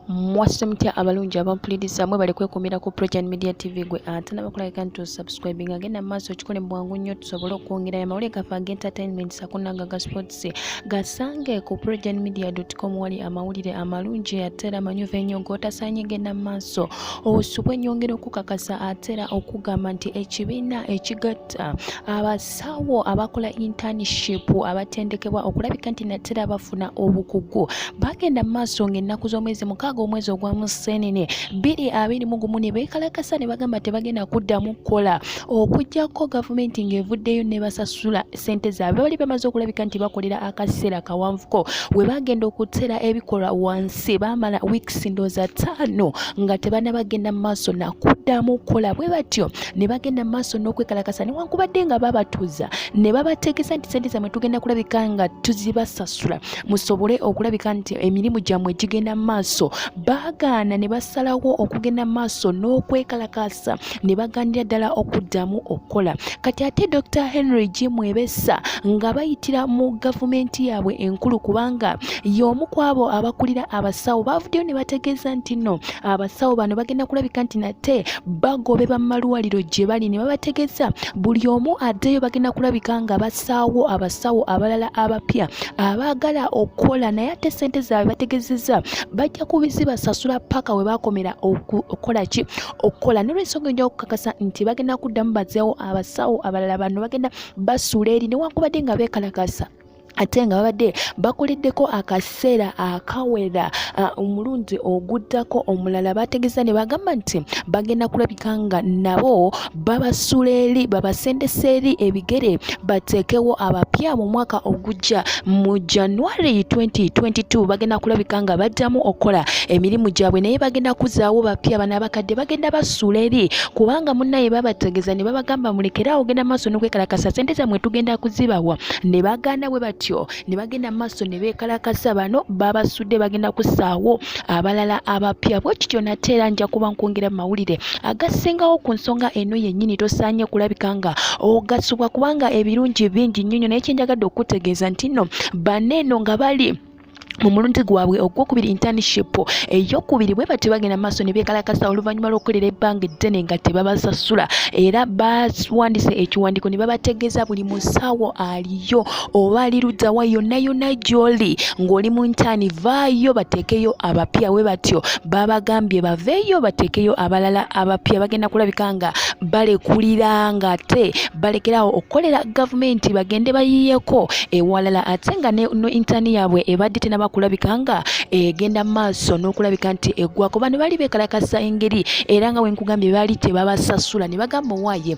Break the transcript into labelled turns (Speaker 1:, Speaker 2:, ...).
Speaker 1: mwasuse mutya abalungi abampuliriza mwe bali kwekuumira ku progen media tv gwe ate nabakulagika nti osubscribing agenda mu maaso okikole mu bwangu nnyo tusobole okwongera ya mawulire gaffe agentertainment sakunanga ga sports gasange ku progen media com wali amawulire amalungi ate era amanyuvu ennyo g'otasaanye genda mu maaso osubwe nyongera okukakasa ate era okugamba nti ekibiina ekigatta abas abasawo abakola internship abatendekebwa okulabika nti natera bafuna obukugu bagenda mu maaso ng'ennaku z'omwezi mukaaga omwezi ogwa museenene bbiri abiri mu gumu ne beekalakasa ne bagamba tebagenda kuddamu kukola okuggyako gavumenti ng'evuddeyo ne basasula ssente zaabwe bali bamaze okulabika nti bakolera akaseera kawanvuko we bagenda okuteera ebikolwa wansi si baamala weeks ndooza ttaano nga tebaana bagenda mu maaso nakuddamu okukola bwe batyo ne bagenda mu maaso n'okwekalakasa newankubadde nga babatuuza ne babategeeza nti sente zammwe tugenda kulabika nga tuzibasasula musobole okulabika nti emirimu gyammwe gigenda mu maaso baagaana ne basalawo okugenda mu maaso n'okwekalakasa ne baganira ddala okuddamu okukola kati ate dr henry g mwebesa nga bayitira mu gavumenti yaabwe enkulu kubanga y'omu ku abo abakulira abasawo baavuddeyo ne bategeeza nti nno abasawo bano bagenda kulabika nti nate bagoberwa mu malwaliro gye bali ne babategeeza buli omu addeyo bagenda kulabika nga basaawo abasawo abalala abapya abaagala okukola naye ate ssente zaabwe bategezezza bajja kubizibasasula paka we bakomera okukola ki okukola nolwensonga enja okukakasa nti bagenda kuddamu bazeewo abasawo abalala bano bagenda basuula eri newankubadde nga beekalakasa ate nga babadde bakoleddeko akaseera akawera omulundi oguddako omulala bategeza ne bagamba nti bagenda kulabika nga nabo babasula eri babasendesa eri ebigere bateekewo abapya mu mwaka ogujja mu january 2022 bagenda kulabika nga baddamu okukola emirimu gyabwe naye bagenda kuzaawo bapya bana abakadde bagenda basuula eri kubanga munnaye babategeza ne babagamba mulekere awo genda maaso nokwekalakasa sente zamwe tugenda kuzibawa ne baganda bwe batyo ne bagenda maaso ne beekalakasa bano babasudde bagenda kusaawo abalala abapya bwe kityo nate era nja kuba nkwongera mu mawulire agasingawo ku nsonga eno yennyini tosaanye kulabika nga ogasubwa kubanga ebirungi bingi nnyo nyo naye kyenjagadde okukutegeeza nti nno bane eno nga bali mu mulundi gwabwe ogwokubiri internship eyokubiri bwe batyo bagenda maaso ne beekalakasa oluvannyuma lw'okukolera ebbanga eddene nga tebabasasula era bawandiise ekiwandiiko ne babategeeza buli musawo ali yo oba ali luddawa yonna yonna gy'oli ng'oli mu ntaani vaayo bateekeyo abapya we batyo babagambye baveeyo bateekeyo abalala abapya bagenda kulabika nga balekulira nga ate balekerawo okukolera gavumenti bagende bayiiyeko ewalala ate nga ne intaani yaabwe ebadde tenaba kulabika nga egenda mu maaso n'okulabika nti eggwako bano baali beekalakasa engeri era nga wenkugambye baali tebabasasula ne bagamba owaaye